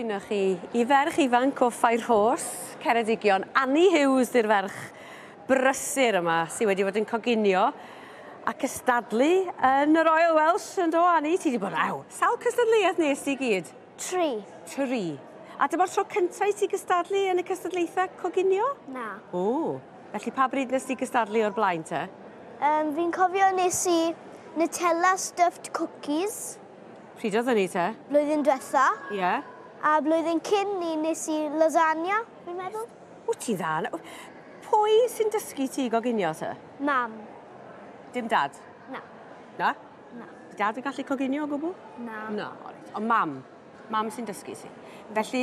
Dyna chi, i ferch ifanc o Fairhorse, Ceredigion, Annie Hughes 'di'r ferch brysur yma sy wedi bod yn coginio a cystadlu yn y Royal Welsh, yn do Annie? Ti 'di bod ar sawl cystadleuaeth nes di i gyd? Tri. Tri. A dyma'r tro cynta i ti gystadlu yn y cystadlaethau coginio? Na. O, felly pa bryd nes di gystadlu o'r blaen te? Yym, fi'n cofio nes i Nutella stuffed cookies. Pryd oedd hynny te? Blwyddyn diwetha. Ie. Yeah. A blwyddyn cyn ni nes i lasagna, fi'n meddwl. Wyt ti'n dda? Pwy sy'n dysgu ti i goginio te? Mam. Dim dad? Na. Na? Na. Di dad yn gallu coginio o gwbl? Na. Na, alright. Ond mam. Mam sy'n dysgu ti. Felly,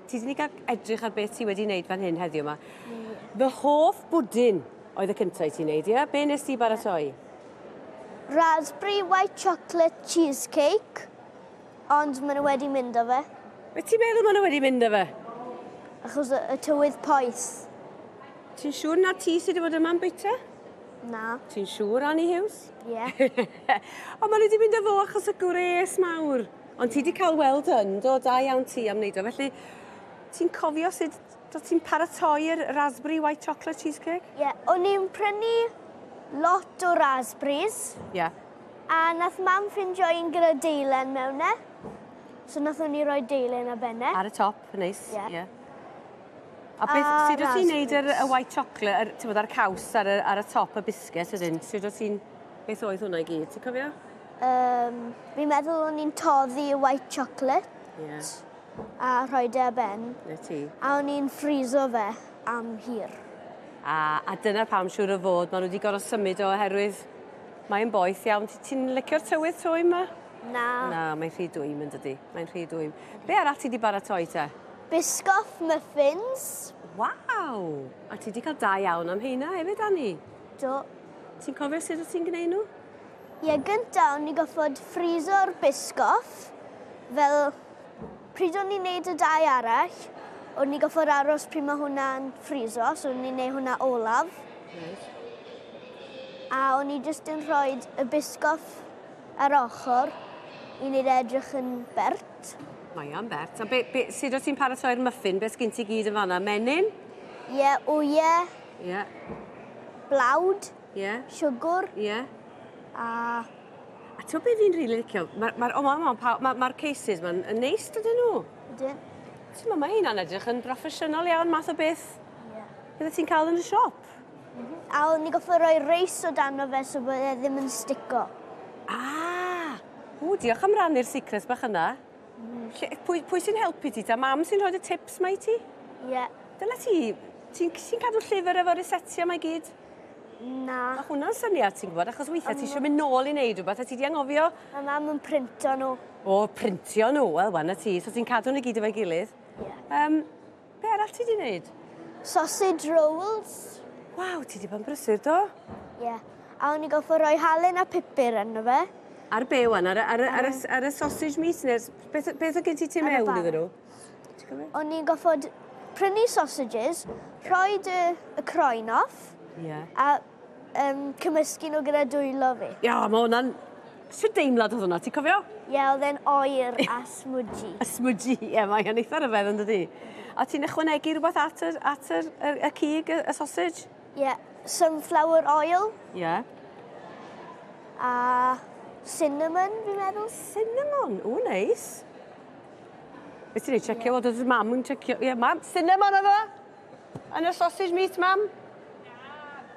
ti wedi cael edrych ar beth ti wedi wneud fan hyn heddiw yma. Fy hoff bwdin oedd y cyntaf i ti'n wneud, ie? Be nes ti baratoi? Raspberry white chocolate cheesecake, ond maen nhw wedi mynd â fe. Be ti'n meddwl maen nhw wedi mynd â fe? Achos y tywydd poeth. Ti'n siŵr na ti sydd wedi bod yma'n bwyta? Na. Ti'n siŵr, Annie Hughes? Ie. Yeah. Ond maen nhw wedi mynd â fo achos y gwres mawr. Ond ti wedi cael weld yn, do, da iawn ti am wneud o. Felly, ti'n cofio sut Do ti'n paratoi'r raspberry white chocolate cheesecake? Ie, o'n i'n prynu lot o raspberries. Ie. A nath mam ffindio un gyda deilen mewn e. So nathon ni roi deilen ar ben e. Ar y top, neis. Ie. Ie. A beth... A raspberries. Sud wt ti'n neud yr y white chocolate yr t'mod a'r caws ar y ar y top y biscuit wedyn sud wt ti'n... Beth oedd hwnna i gyd ti'n cofio? Yym fi'n meddwl o'n i'n toddi y white chocolate. Ie. a rhoed e ar ben. Na ti. A o'n i'n ffriso fe am hir. A, a dyna pam siŵr o fod maen nhw wedi gorfod symud o oherwydd mae'n boeth iawn. Ti'n licio'r tywydd tro yma? Na. Na, mae'n rhy dwym yn dydy. Mae'n rhy dwym. Be arall ti wedi baratoi te? Biscoff muffins. Waw! A ti wedi cael da iawn am heina hefyd, Anni? Do. Ti'n cofio sut wyt ti'n gwneud nhw? Ie, yeah, gyntaf o'n i goffod ffriso'r biscoff fel Pryd o'n ni'n neud y dau arall, o'n ni gorfod aros pryd mae hwnna'n ffriso, so o'n ni'n neud hwnna olaf. Reit. A o'n ni jyst yn rhoi y bisgoff ar ochr i neud e edrych yn bert. Mae o'n bert. A be, be, sut o ti'n paratoi'r muffin? Be sgyn ti gyd yn fanna? Menyn? Ie, yeah, wyau. Ie. Yeah. Blawd. Ie. Siwgwr. Ie. A... A ti'n beth fi'n rili licio? Mae'r... Ma, o, mae'n ma, ma, ma cases ma'n yn neis, dydyn nhw? Dydyn. Ti'n ma, mae hynna'n edrych yn broffesiynol iawn, math o beth yeah. bydde ti'n cael yn y siop. Mm -hmm. A o'n ni goffa roi reis o dan o fe so bod e ddim yn stico. Ah! O, diolch am rannu'r secrets bach yna. Mm. Lle, pwy, pwy sy'n helpu ti? Ta mam sy'n rhoi y tips mae ti? Ie. Yeah. Dyna ti, ti'n ti cadw llyfr efo resetio mae gyd? Na. Ma' hwnna'n syniad ti'n gwbod achos weithie ti isio myn' nôl i neud rwbeth a ti 'di anghofio. Ma' mam yn printo n'w. O printio n'w wel wana ti so ti'n cadw n'w i gyd efo'i gilydd. Ie. Yym be' arall ti 'di neud? Sausage rolls. Waw ti 'di bod yn brysur do. Ie. A o'n i gorffo roi halen a pupur yno fe. Ar be' ŵan ar y ar y ar y s- ar y sausage meat ne'r s- beth o- beth o' gen ti tu mewn iddyn n'w? O'n i'n goffod prynu sausages, rhoi y, y croen off, yeah. a um, cymysgu nhw gyda dwylo fi. Ia, yeah, mae hwnna'n... Sut deimlad oedd hwnna, ti'n cofio? Ie, yeah, oedd e'n oer a smwdji. a smwdji, ie, yeah, mae'n eitha rhyfedd yn dydi. A ti'n ychwanegu rhywbeth at y, at y, y, y cig, y, y sausage? Ie, yeah. sunflower oil. Ie. Yeah. A cinnamon, fi'n meddwl. Cinnamon, o, neis. Nice. Be ti'n ei checio fod oedd mam yn checio... Ie, mam, cinema na fo? Yn y sausage meat, mam?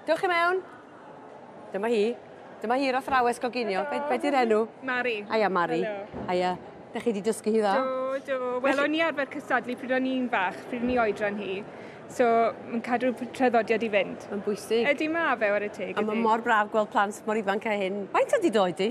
Dewch i mewn. Dyma hi. Dyma hi'r athrawes goginio. Be, be di'r enw? Mari. Aia, Mari. Aia. Da chi wedi dysgu hi dda? Do, do. Wel, o'n i arfer cystadlu pryd o'n i'n fach, pryd o'n i oedran hi. So, mae'n cadw traddodiad i fynd. Mae'n bwysig. Ydy ma fe, ar y teg. A mae mor braf gweld plant mor ifanc a hyn. Faint ydi doed di?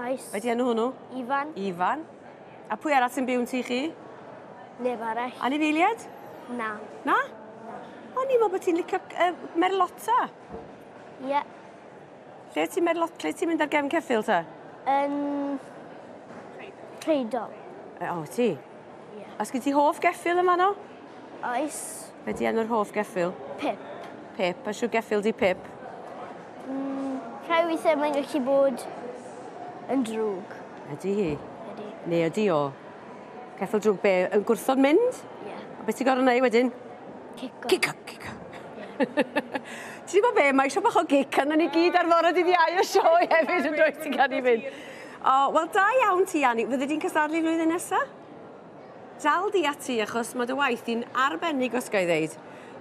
Oes. Be di enw hwnnw? Ifan. Ifan. A pwy arall sy'n byw yn tŷ chi? Neb arall. Anifeiliaid? Na. Na? Na. O, ni'n meddwl bod ti'n licio uh, merlota. Ie. Yeah. Lle ti'n merlot, lle ti'n mynd ar gefn ceffil ta? Yn... Creidol. E, o, ti? Ie. Yeah. A sgyn ti hoff geffil yma no? Oes. Be di enw'r hoff geffyl? Pip. Pip. A siw geffyl di Pip? Mm, rhai weithiau mae'n gallu bod yn drwg. Ydy hi? Ydy. Neu ydy o? Ceffyl drwg be? Yn gwrthod mynd? Ie. Yeah. A beth ti'n gorau neud wedyn? Cico. Cico, cico. Ti'n gwybod be, mae eisiau bach o gic arno ni gyd ar fore dydd iau o sioe hefyd yn dweud ti'n cael ei fynd. O, wel da iawn ti, Annie. Fydde di'n cystadlu flwyddyn nesaf? Dal di ati achos ma' dy waith di'n arbennig os ga i ddeud.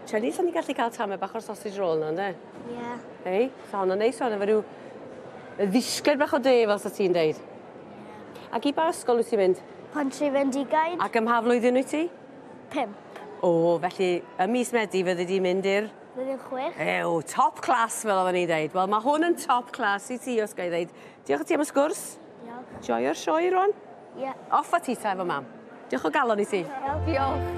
Shani, sa ni'n gallu cael tamed bach o'r sausage roll 'na ynde? Ie. Hei, sa honna'n neis iawn efo ryw ddisgled bach o de fel sa ti'n deud. Ie. Ac i ba ysgol wyt ti'n mynd? Pontri Fendigaid. Ac ym mha flwyddyn wyt ti? Pump. O, felly ym mis Medi fyddi di'n mynd i'r... Blwyddyn chwech. Ew, top class fel oedden ni'n deud. Wel, ma' hwn yn top class i ti os ga i ddeud. Diolch i ti am y sgwrs. Diolch. Joio'r sioe rŵan. Ie. Off a ti ta efo mam. Diolch o galon i ti. Diolch.